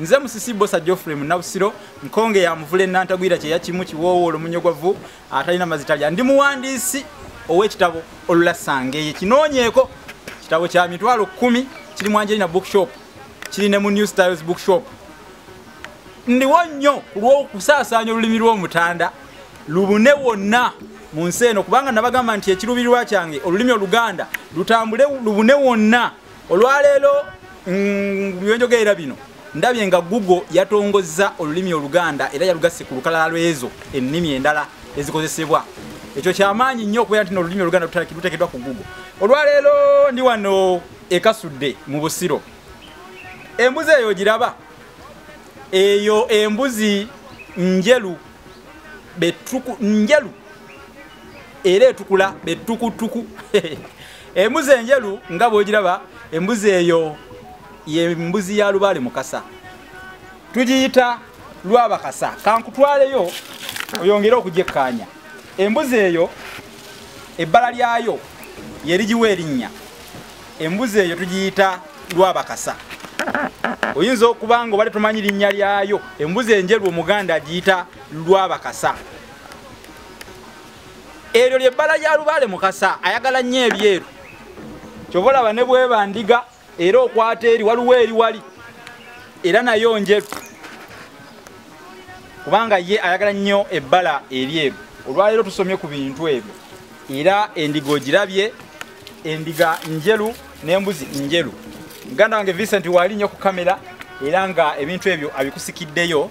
nze musisi bosa geoffrey munabusiro nkonge ya muvula enantagwira kyeya kimu kiwoowo olomunyogwavu atalina mazitalya ndi muwandiisi ow'ekitabo olulasangeye kinoonyeeko kitabo kya mitwalo kumi kiri mu angelina bookshop kiri ne mu new styles bookshop ndiwo nnyo ku lw'okusaasaanya olulimi lw'omutanda lubune wonna mu nsi eno kubanga nabagamba nti ekiruubirirwa kyange olulimi oluganda lutambule lubune wonna olwaleero mm, byenjogerera bino ndabye nga google yatongozza olulimi oluganda era yalugasse ku lukalala lwezo ennimi endala ezikozesebwa ekyo kyamaanyi nnyo okubeera nti nolulimi oluganda lutekedwa ku google olwaleero ndi wano ekasudde mu busiro embuzi eyo giraba eyo embuzi njelu betuku njelu era etukula betukutuku embuzi enjeru nga bwogiraba embuzi eyo yembuzi ya lubaale mukasa tugiyita lwabakasa kankutwaleyo oyongere okugyekkaanya embuzi eyo ebbala lyayo yerigiwa erinnya embuzi eyo tugiyita lwabakasa oyinza okuba nga obadde tomanyi linnya lyayo embuzi enjeru omuganda agiyita lwabakasa eryo lyebbala lya lubaale mukasa ayagala nnyo ebyeru kyova olaba ne bweba ndiga era okwata eri waliwo eri wali era nayo njeru kubanga ye ayagala nnyo ebbala eryeru olwaleero tusomye ku bintu ebyo era endiga ogirabye endiga njeru n'embuzi njeru muganda wange vincent waali nnyo ku kamera era nga ebintu ebyo abikusikiddeyo